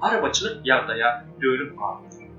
Arabaçylyk ýagdaýa dönüp galypdyr.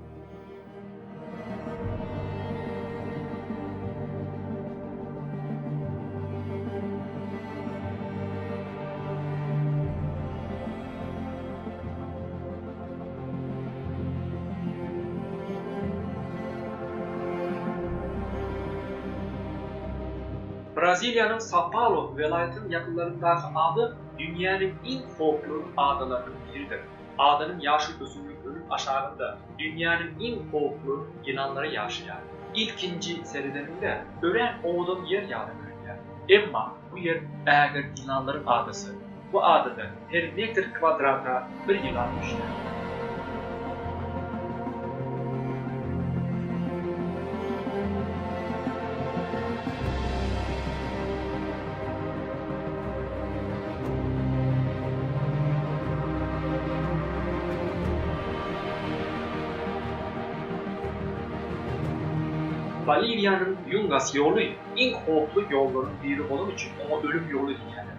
Braziliýanyň Sao-Paulo welaýatynyň ýakynlaryndaky ada Dünýäniň iň howply adalarynyň biridir. Adanyň ýaşyl ösümlik önüm aşagynda dünýäniň iň howply ýylanlary ýaşaýar. Ilkinji seredeniňde örän owadan ýer ýaly görünýär. Emma bu ýer ägirt ýylanlaryň adasy. Bu adada her metr kwadrata Bir ýylan düşdi. Boliwiýanyň Ýungas ýoly iň howply ýollaryň biri bolany üçin oňa ölüm ýoly diýýärler.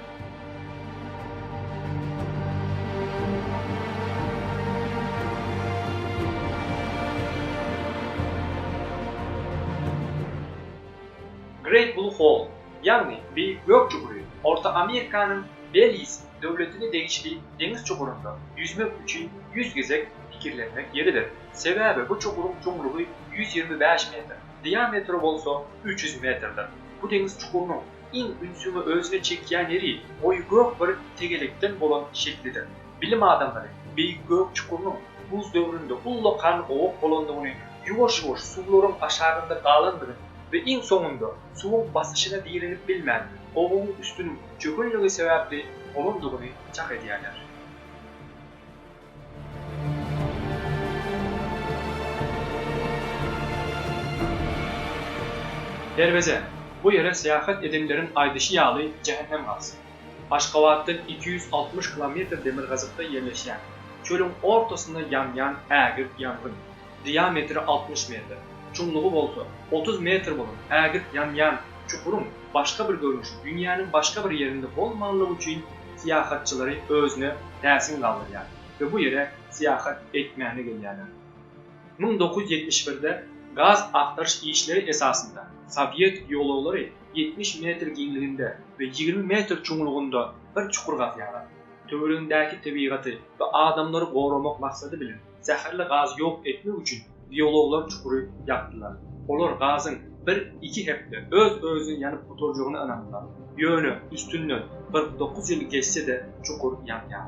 Great Blue Hole, ýagny Beýik Gök çugury, Orta Amerikanyň Beliz döwletine degişli deňiz çugurynda ýüzmek üçin ýüz gezek pikirlenmek ýeridir. Sebäbi bu çuguryň çuňlugy ýüz ýigrimi bäş metr, diametri bolsa üç ýüz metrdir. Bu deňiz çukurynyň Iň ünsüňi özüne çekýän ýeri goýy gök bir tegelekden bolan şeklidir. Bilim adamlary Beýik Gök çukurynyň buz döwründe ullakan gowak bolandygyny, ýuwaş-ýuwaş suwlaryň aşagynda galandygyny we iň soňunda suwuň basyşyna direnip bilmän, gowagyň üstüniň çökenligi sebäpli bolandygyny çak edýärler. Derweze, bu ýere syýahat edenleriň aýdyşy ýaly jähennem gapysy. Aşgabatdan iki ýüz altmyş kilometr demirgazykda ýerleşýän, çölüň ortasynda ýanýan ägirt ýangyn. diametri altmyş metr, çuňlugy bolsa otuz metr bolan ägirt ýanýan çukuryň başga bir görnüşi dünýäniň başga bir ýerinde bolmanlygy üçin syýahatçylary özüne täsin galdyrýar we bu ýere syýahat etmäne gelýärler. Müň dokuz ýüz ýetmiş birde gaz agtaryş işleri esasynda sowet geologlary ýetmiş metr giňliginde we ýigrimi metr çuňlugynda bir çukur gazýarlar. Töweregindäki tebigaty we adamlary goramak maksady bilen. zäherli gazy ýok etmek üçin biologlar çukury ýapdylar. Olar gazyň bir-iki hepde öz-özüni ýanyp gutarjagyna ynandylar. Ýöne üstünden kyrk dokuz ýyl geçse-de çukur ýanýar.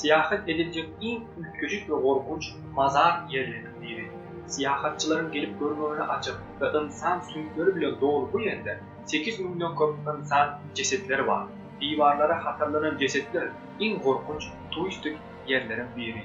Syýahat ediljek iň üýtgeşik we gorkunç mazar ýerleriniň biri. Syýahatçylaryň gelip görmegine açyk we ynsan süňkleri bilen doly bu ýerde sekiz müňden köp ynsan jesetleri bar. Diwarlara hatarlanan jesetler iň gorkunç turistik ýerleriň biri.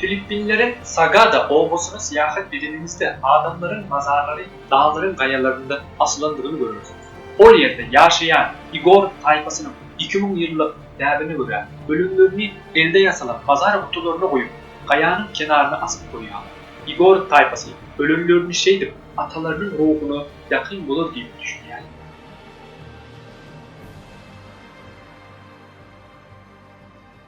Filippinleriň Sagada obasyna syýahat edeniňizde adamlaryň mazarlary daglaryň gaýalarynda asylandygyny görersiňiz. Ol ýerde ýaşaýan Igor taýpasynyň iki müň ýyllyk däbine görä, ölümlerini elde ýasalan bazar gutularyna goýup, gaýanyň kenaryna asyp goýýarlar. Igor taýpasy ölenlerini şeýdip atalarynyň ruhuna ýakyn bolar diýip düşünýärler.